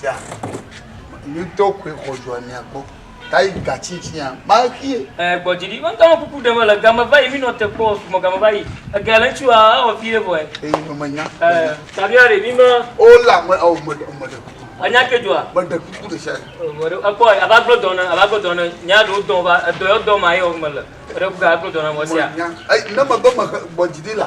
Tia, nutɔ koe xɔzua mia kpɔ. Ta yi gatsitsinya, maxie. Ɛ, gbɔ dzi ɖi. Ŋutɔ me kuku ɖe me le game va yi, mi nɔ te kpɔ, sumɔ game va yi. Ege le ŋutsu a, ewɔ fi ɖe vɔɛ. Ɛ, yi me nya. Ɛ, tabia ɖe, mi me. O la, me, o, me, me ɖe kuku. A nya ke dua? Me ɖe kuku ɖe sia. Ɔ, ɖe, ekpɔ, a va gblɔ dɔn ne, a va gblɔ dɔn ne, nya ɖewo dɔn va, edɔ yɔ dɔn ma yɔ me le. Eɖe kuku a gblɔ dɔn na mɔ sia. Me nya. Ɛ, ne me be me xe gbɔ dzi ɖi la,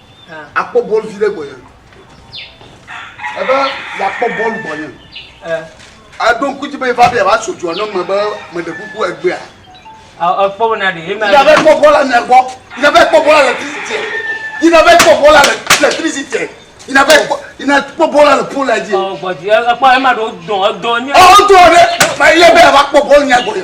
akpɔ bɔl vi ɖe gbɔnye ebe yeakpɔ bɔl gbɔnye eɖo ŋku dzi be eva be yeava so dua ne me be meɖe kuku egbea ekpɔ be na ɖe ema yava kpɔ bɔl le mia gbɔ yina va kpɔ bɔl le trisite yina va kpɔ bɔl le trisite yina va kpɔ yina kpɔ bɔl le pol la dzi. ɔ gbɔdzi ekpɔ ema ɖo dɔn edɔn nye. ɔ dɔn ɖe ma ye be yava kpɔ bɔl nya gbɔnye.